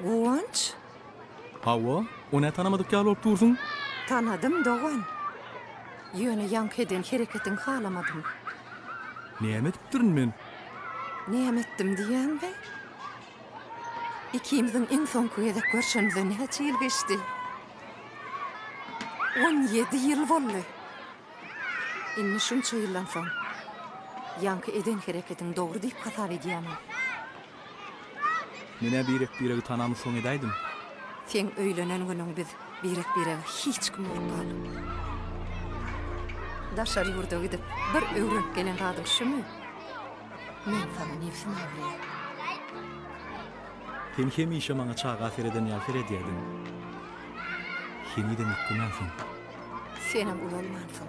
Guwanç? Hawa, o nä tanamadyk ýaly bolup dursuň? Tanadym, dogan. Ýöne ýaňky eden hereketiňi halamadym. Näme edipdirin men? Näme etdim diýýäňmi? Ikimiziň iň soňky gezek görşenimize näçe ýyl geçdi? On ýedi ýyl boldy. Indi şunça ýyldan soň, ýaňky eden hereketiňi dogry diýip hasap edýämiň? Men-ä birek-biregi tanamy soň edäýdim. Seň öýlenen günüň biz birek-birege hiç kim bolup galdyk. Daşary ýurda gidip bir öwrenip gelen zadyň şumy? Men saňa nebsim agyrýar. Sen hemişe maňa çaga sereden ýaly seredýärdiň. Henizem ökdemänsiň. Senem ulalmansyň.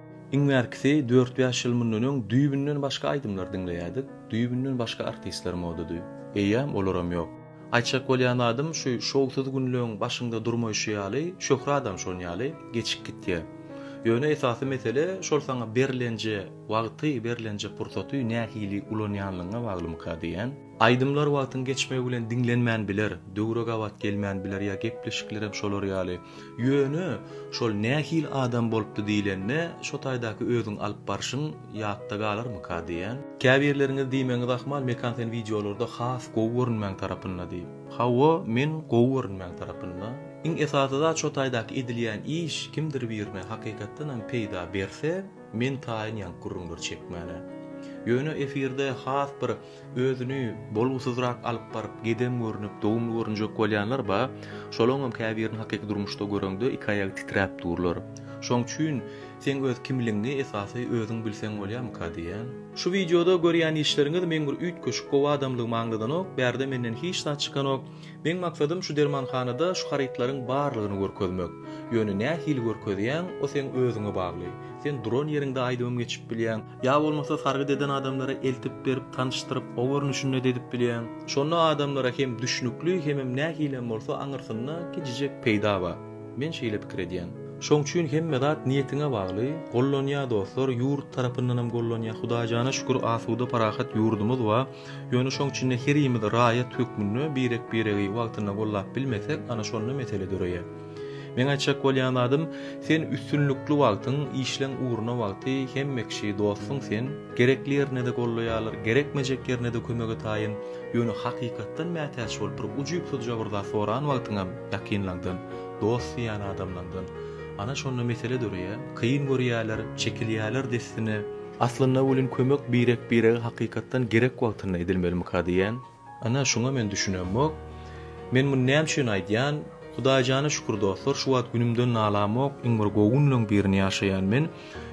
Iň bärkisi dört-bäş ýyl mundan öň düýbünden başga aýdymlar diňleýärdik, düýbünden başga artistler modady. Eýýäm olaram ýok. Aýtjak bolýan zadym şu şowsuz günleň başyňda durmaýşy ýaly, şöhratam şon ýaly geçip gitýär. Ýöne esasy mesele şol saňa berlenje wagty, berlenje pursaty nähili ulanýanlygyňa baglymyka diýýän. Aýdymlar wagtyň geçmegi bilen diňlenmän biler, döwre gabat gelmän biler ýa gepleşiklerem şolar ýaly. Ýöne şol nähili adam bolupdy diýlende, şo taýdaky özüň alyp barşyň ýatda galarmyka diýýän. Käbirleriňiz diýmegiňiz ahmal, Mekan sen wideolarda has gowy görünmäň tarapynda diýip. Hawa, men gowy görünmäň tarapynda. Iň esasy zat şo taýdaky edilýän iş kimdir birine hakykatdanam peýda berse, men taýyn ýank gürrüňler çekmäne. Ýöne efirde has bir. Özüni bolgusyzrak alyp baryp gedem görnüp dogumly görünjek bolýanlar ba, şolaňam käbirini hakyky durmuşda göreňde iki aýagy titräp durlar. Şoň üçin seň öz kimligiňi esasy özüň bilseň bolýamyka diýýän. Şu wideoda görýän işleriňiz meň bir üýtgeşik gowy adamlygymy aňladanok, bärde menden hiç zat çykanok. Meň maksadym şu dermanhanada şu harytlaryň barlygyny görkezmek. Ýöne nähili görkezýäň o seň özüňe bagly. Sen duran ýeriňde aýdymym geçip bilýäň, Ýa bolmasa sargyt eden adamlara eltip berip tanyşdyryp o görnüşinde dedip bilýäň. Şonda adamlara hem düşnükli hemem nähilem bolsa aňyrsynda gijijek peýda bar. Men şeýle pikir edýän. Şoň üçin hemme zat niýetiňe bagly, gollanýa dostlar ýurt tarapyndanam gollanýa Hudaýjana şükür asuda parahat ýurdumyz bar. Ýöne şoň içinde herimiz raýat hökmünde birek biregi wagtynda gollap bilmesek ana şonda mesele döreýä. Meň aýtjak bolýan zadym, sen üstünlikli wagtyň, işleň ugruna wagty, hemme kişi dostuň sen, gerekli ýerinde-de gollaýarlar, gerekmejek ýerinde-de kömege taýyn, ýöne hakykatdan mätäç bolup bir ujypsyzja bir zat soran wagtyňam ýakynlaňdan, dost diýýän adamlaňdan, ana şonda mesele döreýär, kyn görýärler, çekilýärler dessine. Aslynda welin kömek birek-birege hakykatdan gerek wagtynda edilmelimikä diýýän. Ana, şuňa men düşünemok. Men muny näme üçin aýdýan? Hudaýjana şükür dostlar, şu wagt günümden nalamok, iň bir gowy günleň birini ýaşaýan men.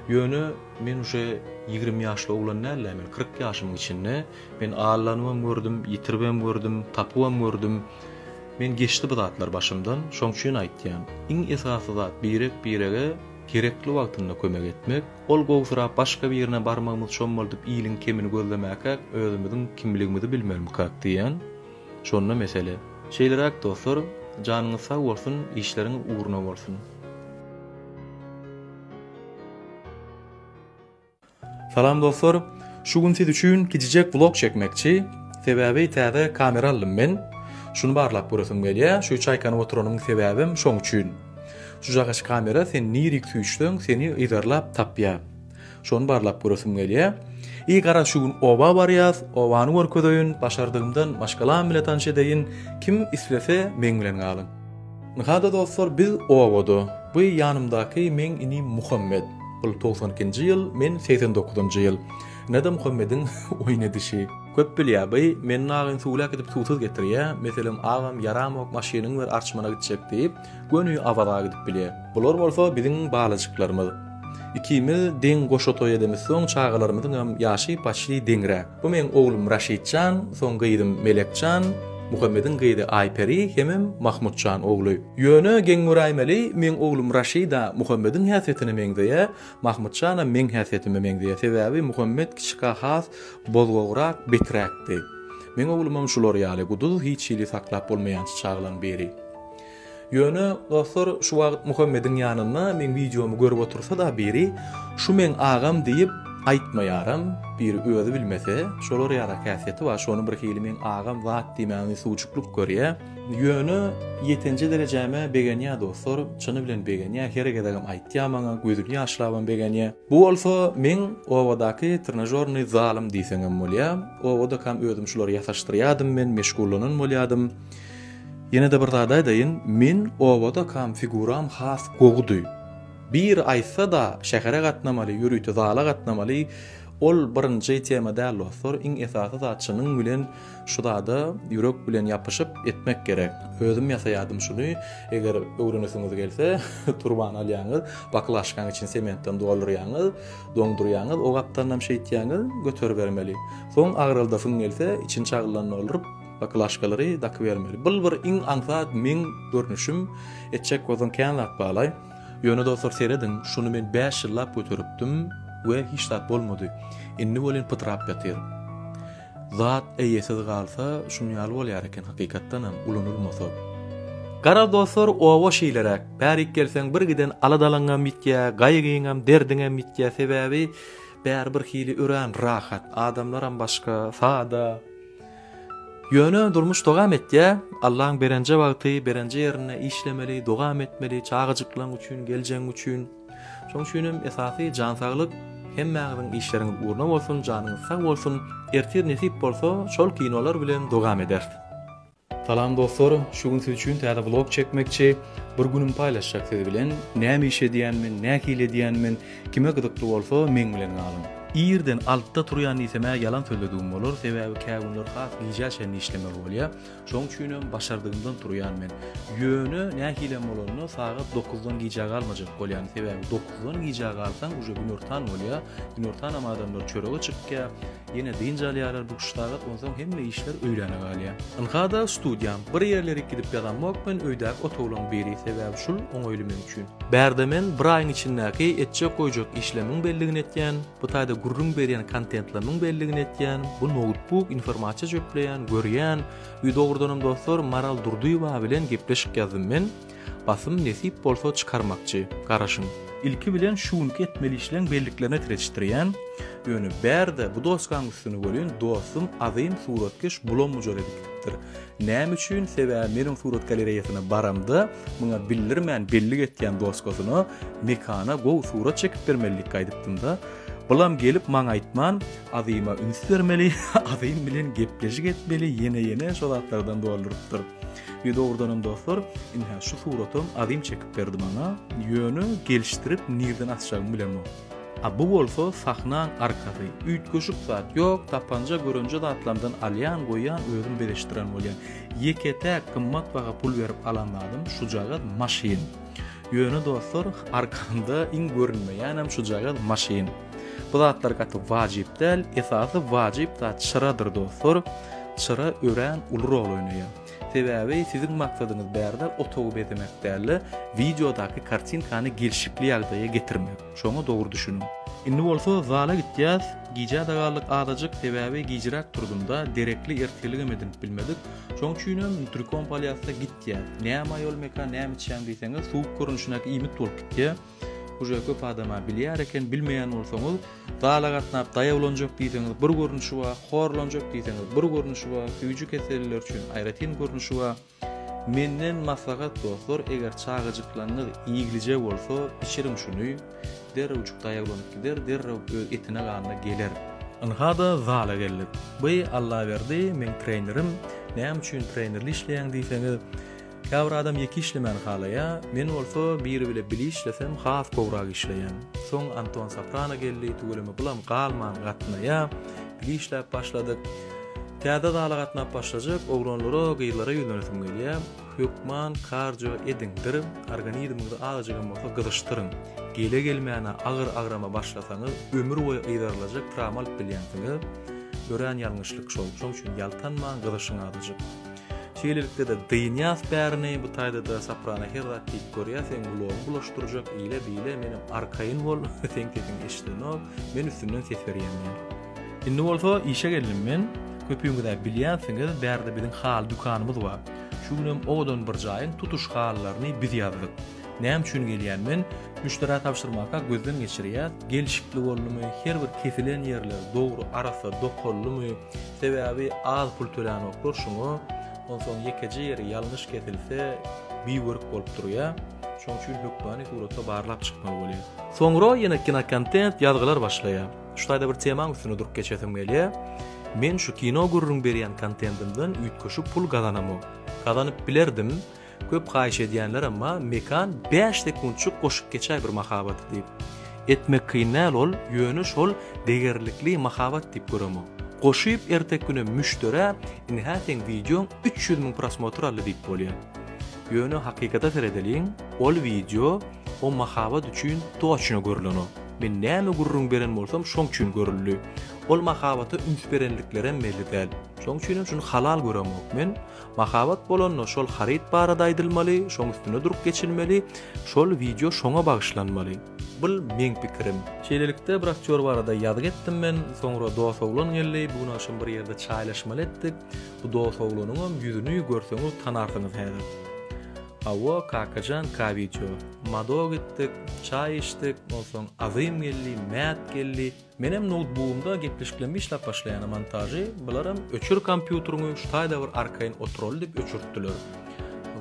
Ýöne, men uje ýigrimi ýaşly oglan däl-ä, men kyrk ýaşymyň içinde. Men aldanybam gördüm, ýitiribem gördüm, tapybam gördüm. Men geçdi bu zatlar başymdan, şoň üçin aýtýan. Iň esasy zat birek-birege gerekli wagtynda kömek etmek. Ol gowsyrap başga birine barmagymyz çommaldyp iliň kemini gözlemäkäk özümiziň kimligimizi bilmelimkak diýýän. Şonda mesele. Şeýleräk dostlar, janyňyz sag bolsun, işleriň ugruna bolsun. Salam dostlar, şu gün siz üçin kijijek vlog çekmekçi, sebäbi täze kamera aldym men, şuny barlap göresim gelýä, şu çaýkanyp oturanymyň sebäbem şoň üçin. Şujagaç kamera sen nirik süýşseň seni yzarlap tapýa. Şony barlap göresim gelýä. Eý gara şu gün oba barýas, obany görkezeýin, başardygymdan maşgalam bile tanş edeýin, kim islese meň bilen galyň. Nahada dostlar biz obada. Bu ýanymdaky meň inim Muhammet. Bul togsan ikinji ýyl, men segsen dokuzynjy ýyl. Inada Muhammediň oýun edişi. Köp bilýä by, meniň agyn suwly äkidip suwsuz getirýä, meselem agam ýaramok maşynyň ber arçmana gitjek diýip, göni Awaza gidip bilýä. Bular bolsa biziň balajyklarymyz. Ikimiz deň goşa toý edemiz soň çagalarymyzyňam ýaşy paçli deňräk. Bu meň oglum Raşitjan, soň gyzym Melekjan, Muhammediň gyzy Aýperi hemem Mahmutjan ogly. Ýöne geň göräýmeli, meň oglum Raşida Muhammediň häsiýetine meňzeýä, Mahmyt jana meň häsiýetime meňzeýär. Sebäbi Muhammet kiçika has bozgograk, beträkdi. Meň oglumam şular ýaly, guduz hiç hili saklap bolmaýançy çaglaň biri. Ýöne, dostlar, şu wagt Muhammediň ýanynda meň wideomy görüp otursa-da biri, Şu meň agam diýip aýtmaýaram, biri özi bilmese, şolar ýaly häsiýeti bar, şony birhili meň agam zat diýmäni suwjuklyk görýär. Ýöne ýetenje derejäme begenýä dostlar, çyny bilen begenýä, her gezegem aýtýa maňa, gözüni ýaşlabam begenýä. Bu bolsa meň obadaky trenažornyý zalym diýseňem bolýa. Obadakam özüm şulary ýasaşdyrýadym men, meşgullanan bolýadym. Ýene-de bir zat aýdaýyn, men obadakam figuram has gowudy. Biri aýtsa-da şähere gatnamaly, ýörite zala gatnamaly, ol birinji tema däl dostlar, iň esasy zat çynyň bilen Şu zada ýürek bilen ýapyşyp etmek gerek. Özüm ýasaýardym şuny. Eger öwrenesiňiz gelse, turban alýaňyz, baklažkanyň içini sementden doldurýaňyz, doňdurýaňyz, o gapdanam şeýtýäňiz, göteribermeli. Soň agyryldasyn gelse, içini çagyldan dolduryp, baklažkalary dakybermeli. Bul bir iň aňsat meň görnüşim. Etjek bolsaň kän zat balaý. Ýöne dostlar serediň, şuny men bäş ýyllap göteripdim we hiç zat bolmady. Indi welin pytrap ýatyr. Zat eýesiz galsa şun ýaly bolýar eken hakykatdanam ulanylmasa. Garaz dostlar oba şeýleräk. Bärik gelseň bir giden aladalaňňam ýitýä, gaýgyňam, derdiňem ýitýä sebäbi bär bir hili örän rahat, adamlaram başga, sada. Ýöne durmuş dogam etýä, Allaň berenje wagty, berenje ýerinde işlemeli, dogam etmeli, çagajyklaň üçin, geljeň üçin. Şoň üçin hem esasy jan saglyk, hemmäňiziň işleriňiz ugruna bolsun, janyňyz sag bolsun, ertir nesip bolsa şol kinolar bilen dowam ederis. Salam dostlar, şu gün siz üçin täze vlog çekmekçi, bir günüm paýlaşjak siz bilen, näme iş edýänmin, nähili edýänmin, kime gyzykly bolsa meň bilen galyň. Irden altyda turýan diýsemä ýalan sözledigim bolar, sebäbi kägünler has gijä çenli işlemeli bolýar, Şoň üçinem başardygymdan turýan men. Ýöne nähilem bolanda sagat dokuzdan gijä galmajak bolýan. Sebäbi dokuzdan gijä galsaň uje günortan bolýa. Günortanam adamlar çörege çykýa. Ýene dynç alýarlar bu üç sagat onsoň hemme işler öýläne galýa. Ynkada studiýam. Bir ýerlere gidip ýazanmok men öýdäki otaglaň biri. Sebäbi şul oňaýly men üçin. Bärde men bir aýyň içindäki etjek goýjak işlemiň belligini etýän. Bu taýda gürrüň berýän kontentleriniň belligini etýän, bu noutbuk informasiýa jöpleýän, görýän, ýü dogrudanam dostlar Maral Durdyýewa bilen gepleşik ýazdym men, basym nesip bolsa çykarmakçy, garaşyň. Ilki bilen şu günki etmeli işleň belliklerini tretişdirýän, ýöne bärde bu dosgaň üstüni welin dostum azym suratkeş bulam mujar edip gidipdir. Näme üçin? Sebäbi meniň surat galereýasyna baramda, muňa bildirmän bellik etýän doskasyna Mekana gowy surat çekip bermelilikki aýdypdym-da. Bulam gelip maňa aýtman, Azyma üns bermeli, Azym bilen gepleşik etmeli, ýene-ýene şo zatlardan doldurypdyr. Ýe dogrudanam dostlar, indi-hä şu suratam Azym çekip berdi maňa, ýöne gelişdirip nirden asjagymy bilemok. A bu bolsa sahnaň arkasy. Üýtgeşik zat ýok, tapanja görenje zatlardan alýan, goýýan, özüm bezeşdiren bolýan. Ýeke-täk gymmat baha pul berip alan zadym şujagaz maşyn. Ýöne dostlar, arkamda iň görünmeýänem şujagaz maşyn. Bu zatlar gaty wajyp däl, esasy wajyp zat çyradyr dostlar. Çyra örän uly rol oýnaýar. Sebäbi siziň maksadyňyz bärde otagy bezemek däl-de, wideodaky kartinkany gelşikli ýagdaýa getirmek. Şoňa dogry düşüniň. Indi bolsa zala gitýäs. Gijä-de galdyk azajyk, sebäbi gijiräk turdum-da, derekli ertirligem edinip bilmedik. Şoň üçinem Nutricom polýasda gitýä. Näme aýol meka, näme içýäň diýseňiz, suwuk görnüşindäki iýmit bolup gitýä. Uje köp adama bilýär eken bilmeýän bolsaňyz zala gatnap daýawlanjak diýseňiz bir görnüşi bar horlanjak diýseňiz bir görnüşi bar süýji keselliler üçin aýratyn görnüşi bar menden maslahat dostlar eger çagajyklaryňyz iýglije bolsa içiriň şuny derrewjik daýawlanyp gider derrew öz etine ganyna geler. Ynhada zala geldik. By Allaberdi meň trenerim. Näme üçin trenerli işleýäň diýseňiz, Käbir adam ýeke işlemäni halaýa, men bolsa biri bile bili işlesem has gowrak işleýän. Soň Anton Soprano geldi, tüweleme bulam galman gatnaýa, bili işläp başladyk. Täze zala gatnap başlajak oglanlara, gyzlara ýüzlenesim gelýä. Hökman kardio ediňdir, organizmiňizi azajygam bolsa gyzyşdyryň. Gele gelmäne agyr agrama başlasaňyz ömür boýy yzarylajak trawma alyp bilýänsiňiz. Örän ýalňyşlyk şol. Şoň üçin ýaltanmaň, gyzyşyň azajyk. Şeýlelikde-de dynýas bärini, bu taýda-da soprana her zat diýip görýär, seň gulagyňy bulaşdyrjak, ile-bile, menem arkaýyn bol, seň sesiň eşidenok, men üstünden ses berýän diýär. Indi bolsa işe geldim men, köpüňiz-ä bilýänsiňiz, bärde biziň haly dükanymyz bar. Şu günem owadan bir jaýyň tutuş halylaryny biz ýazdyk. Näme üçin gelýän men, müşderä tabşyrmaka gözden geçirýäs, gelşikli boldumy, her bir kesilen ýerler dogry arassa dokaldymy, Sebäbi az pul tölänoklar şoňa, onsoň ýekeje ýeri ýalňyş kesilse biwörük bolup durýa, şoň üçin hökmany suratda barlap çykmaly bolýa. Soňra ýene kinokontent ýazgylar başlaýa. Şu taýda bir temaň üstünde durup geçesim gelýä. Men şu kino gürrüň berýän kontendimden üýtgeşik pul gazanamok. Gazanyp bilerdim. Köp haýyş edýänler emma Mekan bäş sekuntjyk goşup geçäý bir mahabaty diýip. Etmek kyn däl ol ýöne şol degerlikli mahabat diýip göremok. Goşyp erteki günem müşderä indi hä seň wideoň üç ýüz müň prosmotr aldy diýip bolýa. Ýöne hakykata seredeliň ol wideo o mahabat üçin toçno görlenok. Men näme gürrüň beren bolsam şoň üçin görüldi. Ol mahabata üns berenliklerem belli däl. Şoň üçinem şuny halal göremok men. Mahabat bolanda şol haryt barada aýdylmaly, şoň üstünde durup geçilmeli, şol wideo şoňa bagyşlanmaly. Bul meň pikirim. Şeýlelikde bir aktýor barada ýazgy etdim men, soňra dos oglan geldi, bu gün agşam bir ýerde çaýlaşmaly etdik, bu dos oglanyňam ýüzüni görseňiz tanarsyňyz häzir. Hawa Kakajan ka wideo. Mado gitdik, çaý içdik, onsoň Azym geldi, Mät geldi, Menem noutbugymda gepleşiklem işläp başlaýana montažy bularam öçür kompýuteriňi şu taýda bir arkaýyn oturaly diýip öçürtdiler.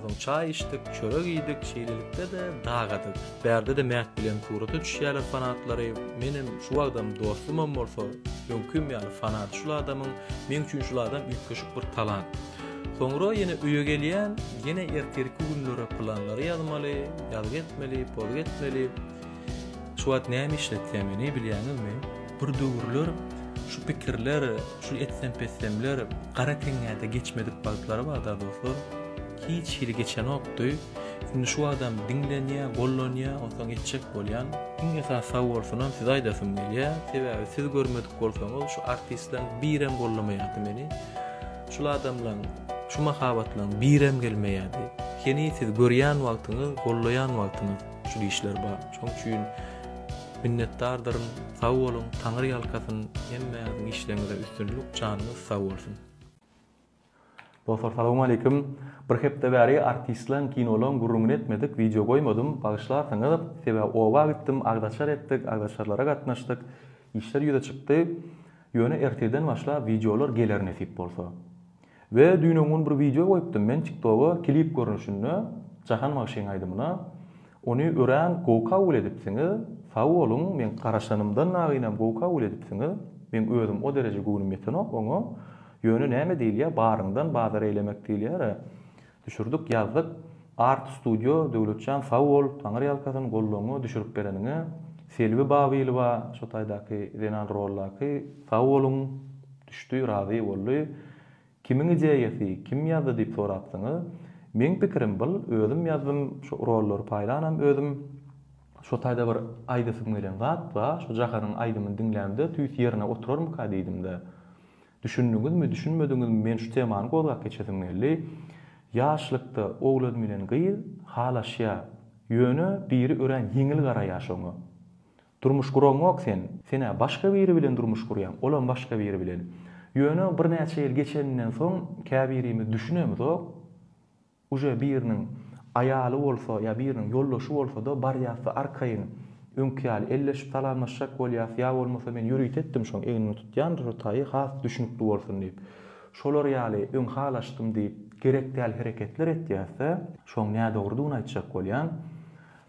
Soň çaý içdik, çörek iýdik, şeýlelikde-de dagadyk. Bärde-de Mäht bilen surata düşýärler fanatlary. Menem şu wagtam dostumam bolsa, öňkim ýaly fanaty şul adamyň. Meň üçin şul adam üýtgeşik bir talant. Soňra ýene öýe gelýän, ýene ertirki günlere planlary ýazmaly, ýazgy etmeli, pozgy etmeli. Şu wagt näme işletýär meni bilýäňizmi? Bir döwürler şu pikirler, şu etsempessemler gara teňňäde geçmedik wagtlary bardy-a dostlar. Hiç hili geçenokdy. Indi şu wagtam diňlenýär, gollanýar, onsoň etjek bolýan. Iň esasy sag bolsunam size aýdasym gelýär. Sebäbi siz görmedik bolsaňyz şu artistlaň birem gollamaýardy meni. Şul adamlaň, şu mahabatlaň birem gelmeýärdi. Heniz siz görýän wagtyňyz, gollaýan wagtyňyz. Şu dişler bar. Şoň üçin minnetdardyryn. Sag boluň, Taňry ýalkasyn. Hemmäňiziň işleriňizde üstünlik, janyňyz sag bolsun. Dostlar salowmaleýkim. Bir hepde bäri artistleň, kinolaň gürrüňini etmedik, wideo goýmadym, bagyşlarsyňyz. Sebäbi oba gitdim, agzaçar etdik, agzaçarlara gatnaşdyk, işler ýüze çykdy. Ýöne ertirden başlap wideolar geler nesip bolsa. We düýn öňňun bir wideo goýupdym men tiktoga klip görnüşinde Jahan bagşyň aýdymyna. Ony örän gowy kabul edipsiňiz. Sag boluň, men garaşanymdan nagynam gowy kabul edipsiňiz. Meň özüm o dereje göwnüm ýetenok oňa. Ýöne näme diýilýär baryňdan bazar eýlemek diýilýär-ä. Düşürdik ýazdyk Art studio Döwletjan sag bol Taňyrýalkasyn gollaňňa düşürip bereniňe Selbi Babylowa şo taýdaky zenan roldaky sag boluň düşdi razy boldy Kimiň ideýasy kim ýazdy diýip sorapsyňyz meň pikirim byl özüm ýazdym şo rollary paýlanam özüm şo taýda bir aýdasym gelen zat ba şo Jahanyň aýdymyny diňlämde tüýs ýerine oturarmyka diýdimde. Düşündiňizmi, düşünmediňizmi men şu temany gozgap geçesim geldi. Ýaşlykda owlad bilen gyz halaşýa. Ýöne biri örän ýeňil garaýa şoňa. Durmuş guraňok sen. Sen-ä başga biri bilen durmuş gurýaň, olam başga biri bilen. Ýöne birnäçe ýyl geçeninden soň käbirimiz düşünemizok. Uje biriniň aýaly bolsa ýa biriniň ýoldaşy bolsada barýasda arkaýyn öňki ýaly elleşip salamlaşjak bolýas ýa bolmasa men ýörite etdim şoň egnini tutýan rotaýy has düşnükli bolsun diýip şolar ýaly öň halaşdym diýip gerek däl hereketler etýäsde şoň nädogrydygyny aýtjak bolýan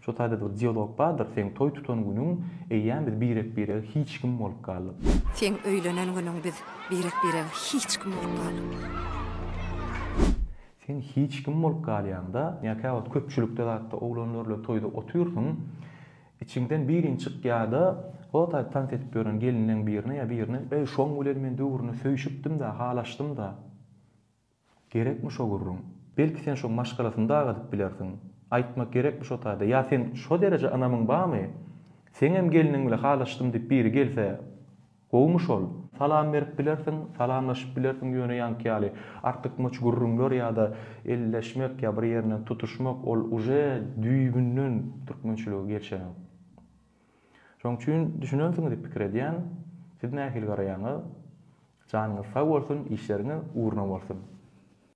şo taýda bir dialog bardyr seň toý tutan günüň eýýäm biz birek birege hiç kim bolup galdyk. Seň öýlenen günüň biz birek birege hiç kim bolup galdyk. Sen hiç kim bolup galýaňda, ýa käwagt köpçülikde zatda oglanlarla toýda otyrsyň, içiňden biriň çykýada, rotaýyp tans edip ýören gelinleň birine ýa birine, Eý, şoň bilen men döwrüne söýşüpdim-dä, halaşdym-da. Gerekmi şo gürrüň? Belki sen şoň maşgalasyny dag edip bilersiň. Aýtmak gerekmi şo taýda? Ýa sen şo dereje ynamyň barmy? Seňem geliniň bile halaşdym diýip biri gelse, Gowumy şol? Salam berip bilersiň, salamlaşyp bilersiň ýöne ýaňky ýaly artykmaç gürrüňler ýa-da elleşmek ýa bir ýerinden tutuşmak ol uje düýbünden türkmençilige gelşenok. Şoň üçin düşünersiňiz diýip pikir edýän. Siz nähili garaýaňyz? Janyňyz sag bolsun, işleriňiz ugruna bolsun!